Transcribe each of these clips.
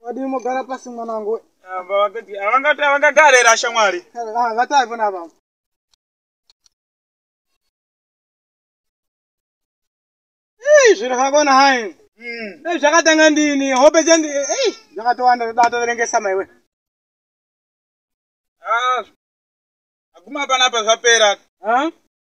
Wadii mogara pasi mwana wangu? Ah, vakati avangati avangagara here ashamwari? Ah, vatai pona apa. Ei, zviro zvakona hai. Mm. Dai zvakatanga ndini, hope chandi. Ei, zvakatowanda zvoda toverengesa maiwe. Ah. Aguma panapa zvapera. Ah.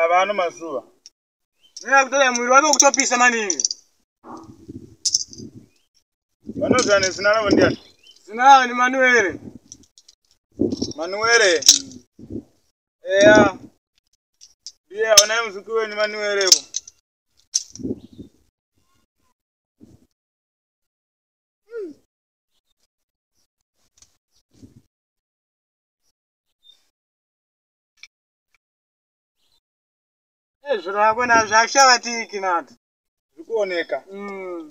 ava ano mazuva neakutoda mwiri wake kutopisa maningi vanoziva nezina ravo ndiani zina ravo ni manuere manuere eya ndiye aonai muzuki wenyu manuerewo Ezviro yako nazvo akushavatiki nati. Zvikuoneka. Mm.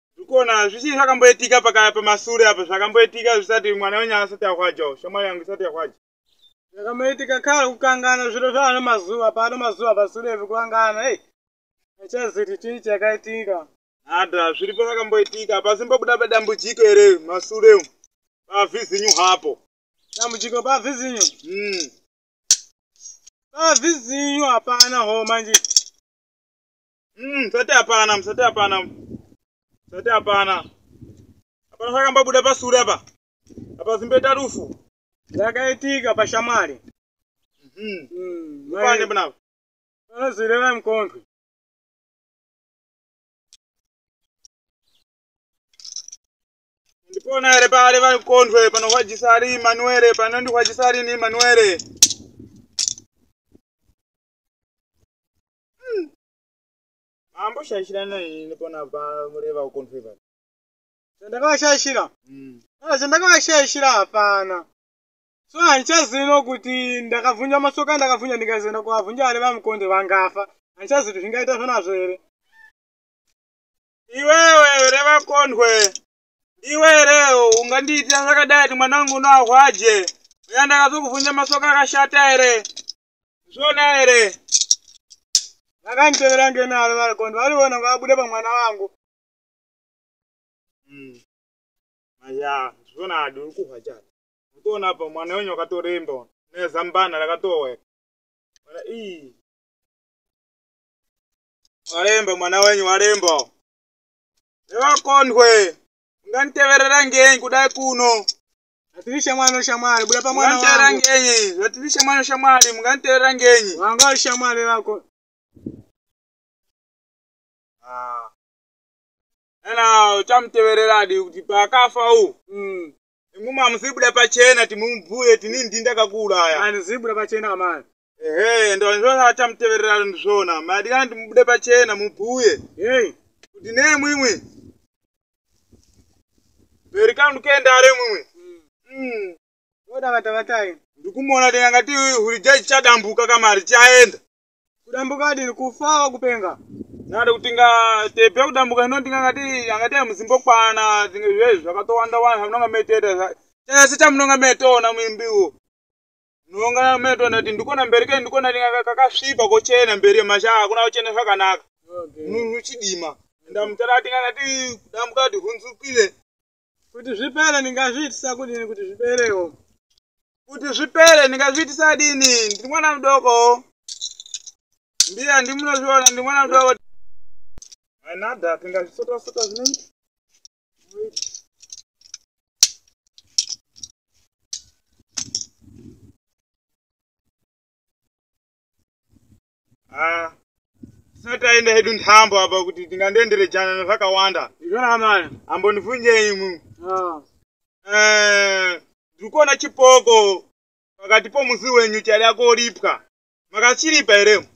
ndikuona zvichii zvakamboitika pakaya pamasure apa zvakamboitika zvisati mwana wenyu asati ahwajawo shamwari yangu isati yahwaja zvakamboitika kare kukangana zviro zvaano mazuva paano mazuva pasure evi kukangana ei achaziti chii chakaitika hada zviri pavakamboitika pasimbobuda padambudziko here masure umu pavhizinyu hapo dambudziko pavhizinyu mm. pavhizinyu hapana ho manje Mm, musati hapana, musati hapana. Musati hapana. Hapana zvakambabuda pasure apa. Apa zimbeta rufu. Zvakaitika pashamwari. Mhm. Mm, Pane mai- panapa. Vanozvireva mukondwe. Ndipona ere pale vari kukondwe panohwajisa ari Emmanuel panondihwajisa ari ni Emmanuel. hmm. mambo shaishirana ini ndipona pamureva ukonfeva chandakavashaishira hmm. ah, chandakavashaishira hapana so handichazino kuti ndakavhunja masoka ndakavhunja ndikazoenda kuvavhunja vari vamukonde vangafa handichazi kuti zvingaita zvonazvo here iwewe here vakondwe iwe here ungandiitira zvakadai kuti mwana wangu unoahwaje uya ndakazokuvhunja masoka akashata here zvona here vakanditevera ngenaro varikondi variona ngavabude pamwana vangu hmm. aya zvona adi uri kuhwa chati utoona pa mwana wenyu wakatoremba nezambana rakatoweka mwana ii waremba mwana wenyu waremba nevakondwe unganditeverera ngei kudai kuno Atiri shamwari no shamwari buda pamwana wangu. Mungantera ngenyi? Atiri shamwari no shamwari mungantera ngenyi? Wanga uri shamwari rako. Ah. Ena uchamuteverera adi kuti paakafa u. Mm. Imuma musibuda pachena timumbuye tini ndinda kakuuraya. Ani zibuda pachena kamani. ehe ndovanzvona atamutevererano ndizvona madikana ndimubude pachena mubhuye hey. kuti nei mwimwi bheri kanu kendare mwimwi mm. odavatavatayini ndikumuona tinga ngati huri jaji chadambuka kamari chaenda kudambuka adini kufawa kupenga nada kuti nga tepe kudambuka hino tinga ngati angati amuzimbokwana tinga zvezvi zvakatowanda wanda zvamunonga meteta chese chamunonga metona mwimbiwo Nonga meto ndati ndikona mberi ke ndikona ndinga kakasvipa kochena mberi yemasha hakuna kuchena zvakanaka. Munhu chidima. Ndamutara ati kana ti dambuka ti hunzukile. Kuti zvipere ndingazviitisa kudini kuti zviperewo. Kuti zvipere ndingazviitisa dini ndiri mwana mudoko. Mbiya ndimunozviona ndiri mwana mudoko. Anada tingazvisota sota zvinoita. Ah, tisati aenda hedu nhambo apa kuti tingandoenderejana nezvakawanda Zvakanaka. ambondifunjei imwi Ah. Eh, ndiri kuona chipoko pakati pomusi wenyu chari akoripwa makachiripa here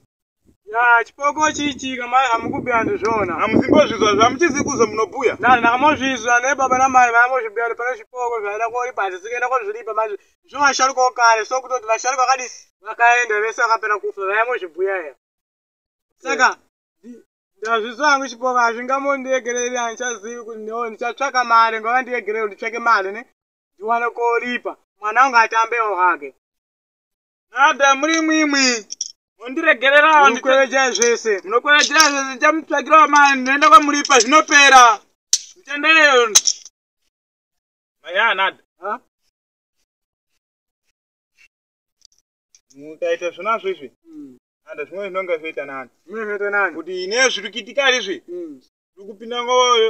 ya chipoko chichi kama hamukubira ndizvona hamuzimbozvizwa zvamuchizi kuzo munobhuya nani ndakamozvizwa nebaba namai vaamozvibira kuti pane chipoko zvaida koripa hazvisikaenda kozviripa manje zvo vasharuka okare so kutoti vasharuka vakadii vakaenda vese vakapera kufa vaamozvibhuya ya saka ndazvizwa hangu chipoko hazvingamondiegereri handichazivi kuti no ndichatsvaka mari ngava ndiegereri nditsvake mari ne ndiwane koripa mwana wangu atambewo hake Nada muri imwimwi. Mundiregererawo ndikweveja zvese. Munokwevejera zvese ndichamutsvagirawo mari ndinoenda kwamuripa zvinopera. Mutendeyo. Maya Nada. Ha? Mukaita zvona zvizvi. Mm. Nada zvimwe zvinonga zvoita nani. Zvimwe zvoita nani. Kuti ine zviri kuitika izvi. Mm. Ndikupinda ngoyo.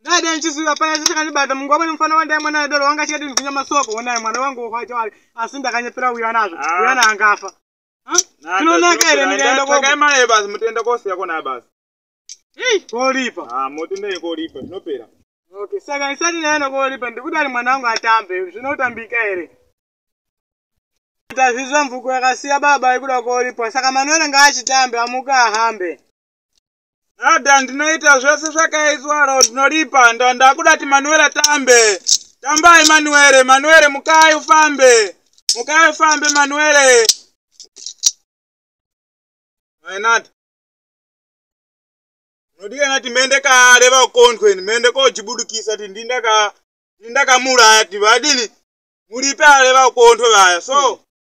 ndaida ndichisiva pana chichakandibata mungu wamwene mufana wandai mwana adoro wanga chikati ndikunya masoko wonai mwana wangu wokwacho wari asi ndakanyepera uya nazvo ah. uya naangafa tinonaka here ndikaenda kwakaimai basi mutenda kosiya kona basi hei koripa ah, motendai koripa zvinopera okay saka ndisati ndaenda koripa ndikuti ari mwana wangu atambe zvinotambika here tazvizwa mvuko yakasiya baba ikuda koripa saka manuere ngaachitambe amuka ahambe Nada ndinoita zvese zvakaiswa ro ndinoripa ndo ndakuda ti Manuela tambe. Tambai Manuele, Manuele mukai ufambe. Mukai ufambe Manuele. Hai Nada. Nodika nati mende kare vakondweni mende kojibudukisa ti ndindaka ndindakamuraya ti vadini muripe ale vakondwe vaya so. Hmm.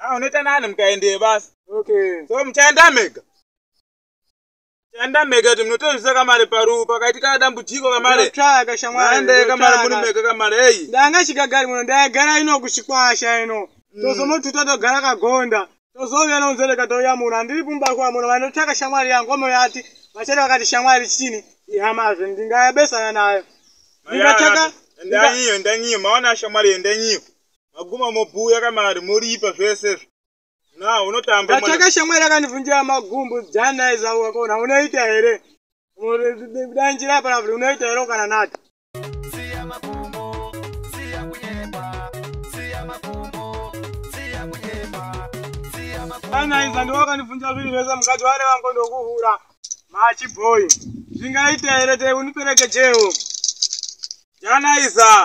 Ah, unoita nani mukaendee basi okay so muchaenda mega muchaenda mega kuti munotozvisa kamari paru pakaitika dambudziko kamari tsvaka shamwari maendee kamari muri mega kamari eyi ndanga chigagari muno ndaigara ino kuchikwasha ino Mm. tozonotuta togara kagonda tozouya nonzereka touya muno handiri kumba kwa muno vanotsvaka shamwari yangu omoyati vachati vakati shamwari chini ihamazve ndingayabesana nayo ndingatsvaka endanyiyo endanyiyo maona shamwari endanyiyo maguma mobuya kamari moripa zvese izvo na unotamba ndatsvaka shamwari yakandivhunjira magumbu jana izauka kona unoita here dai njira yaparavri unoita here ukana nati anaiza ndiwo akandivhunjira zvinhu zvese mukadzi ware vangu ndokuhura machibhoyi zvingaita here te uniperekejewo janaiza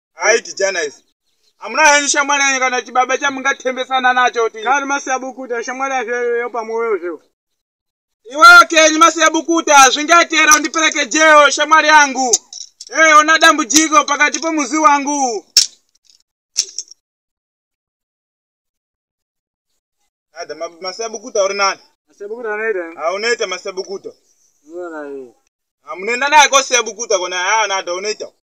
aiti janaisi hamuna henyu shamwari yenyu kana chibaba chamungatembesana nacho ti kari masiya bukuta shamwari yacho pamwoyo zvo iweyo kenyu masiya bukuta hazvingaitera undiperekejewo shamwari yangu ee ona dambudziko pakati pomuzi wangu ada masiya bukuta uri nani haunoita masiya bukuta hamunoenda naye kosiya bukuta kona haa nada unoita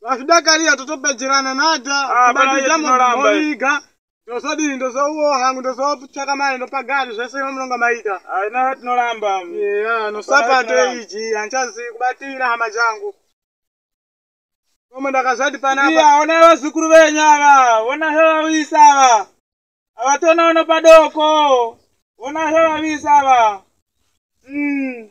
vakudakarira totopedzerana nada Ah, pana iye tinoramba iye. kubakizamoiga ndozodini ndozouwo hangu ndozotsvaka mari ndopagari zvese vamunonga maita haina tinoramba Yeah, no sapato Right, iji handichazi kubatira hama dzangu koma ndakazvati panapa iya ona vazukuru venyu ava ona zvavavisa ava havatona uno padoko ona zvavavisa ava Mm.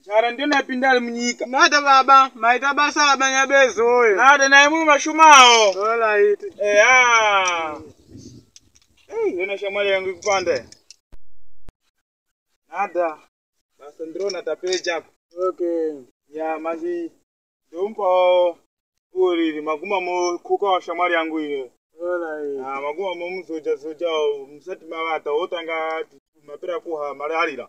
Njara ndiyo napinda ari munyika. Nada baba, maita basa baba nyabezo oyo. Nada naye mumwe mashumawo. Alright. Eya. Hey, yona shamwari yangu ikupanda. Nada. Basa ndrona tapeja apa. Okay. Ya manje ndompa uriri maguma mo kuka wa shamwari yangu iyo. Alright. Ah, maguma mo muzoja zoja musati mavata otanga mapera kuha mararira.